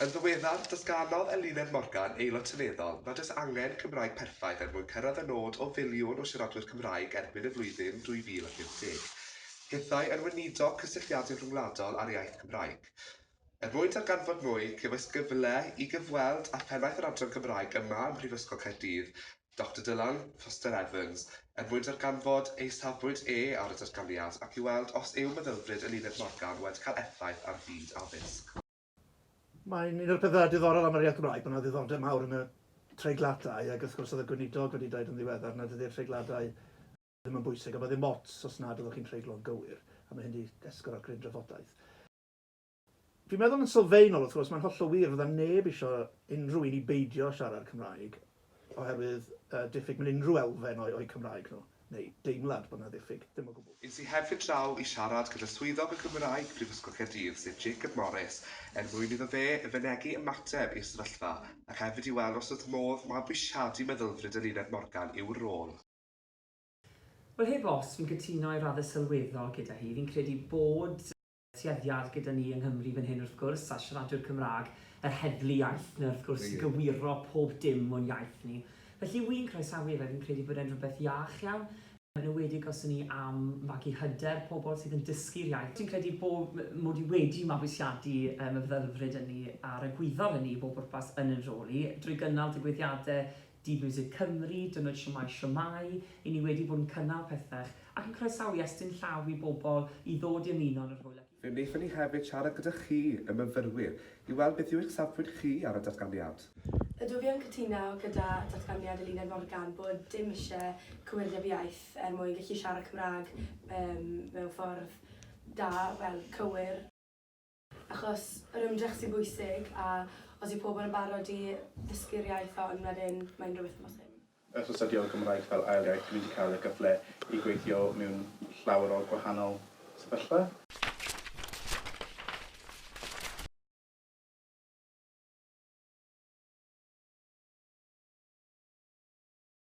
Yn ddiweddar, datganodd Eluned Morgan, Aelod Seneddol, nad oes angen Cymraeg perffaith er mwyn cyrraedd y nod o filiwn o siaradwyr Cymraeg erbyn y flwyddyn 2050. Hithau yn weinidog cysylltiadau rhyngwladol â'r iaith Gymraeg. Er mwyn darganfod mwy, cefais gyfle i gyfweld â phennaeth yr adran Gymraeg yma ym Mhrifysgol Caerdydd, Doctor Dylan Foster Evans, er mwyn darganfod ei safbwynt e ar y datganiad ac i weld os yw meddylfryd Eluned Morgan wedi cael effaith ar fyd addysg. Mae'n un o'r pethau diddorol am yr iaith Gymraeg bod 'na ddiddordeb mawr yn y treigladau ac wrth gwrs oedd y Gweinidog wedi dweud yn ddiweddar nad ydy'r treigladau ddim yn bwysig a bod ddim ots os nad ydych chi'n treiglo'n gywir a mae hyn 'di esgor ar gryn drafodaeth. Dwi'n meddwl yn sylfaenol, wrth gwrs, mae'n hollol wir, fydda neb isio unrhyw un i beidio siarad Cymraeg oherwydd y diffyg mewn unrhyw elfen o'u o'u Cymraeg nhw, neu deimlad bod 'na ddiffyg, ddim o gwbl. Es i hefyd draw i siarad gyda Swyddog y Gymraeg Prifysgol Caerdydd, sef Jacob Morris, er mwyn iddo fe fynegi ymateb i'r sefyllfa ac hefyd i weld os oedd modd mabwysiadu meddylfryd Eluned Morgan i'w rôl. Wel, heb os, fi'n cytuno i raddau sylweddol gyda hi. Fi'n credu bod. tueddiad gyda ni yng Nghymru fan hyn wrth gwrs, a siaradwyr Cymraeg, yr heddlu iaith 'na wrth gwrs i gywiro pob dim o'n iaith ni. Felly wi'n croesawu fe, fi'n credu bod e'n rhywbeth iach iawn, yn enwedig os 'yn ni am magu hyder pobl sydd yn dysgu'r iaith. Dwi'n credu bo' mod i wedi mabwysiadu y meddylfryd ynni a'r egwyddor ynni i bob pwrpas yn 'yn rhôl i, drwy gynnal digwyddiade Dydd Miwsig Cymru, Dyna Shwmae Shwmae, i ni wedi bod yn cynnal pethach ac yn croesawu estyn llaw i bobl i ddod i ymuno yn yr hwyl ac i. Fe wnaethon ni hefyd siarad gyda chi, y myfyrwyr, i weld beth yw eich safpwynt chi ar y datganiad. Ydw fi yn cytuno gyda datganiad Eluned Morgan bod dim isie cywirdeb iaith er mwyn gallu siarad Cymraeg mewn ffordd da, wel, cywir. achos yr ymdrech sy'n bwysig a os yw pobl yn barod i ddysgu'r iaith hon wedyn mae'n rhywbeth amhosib. Wrth astudio Gymraeg fel ail iaith dwi wedi cael y gyfle i gweithio mewn llawer o gwahanol sefyllfa.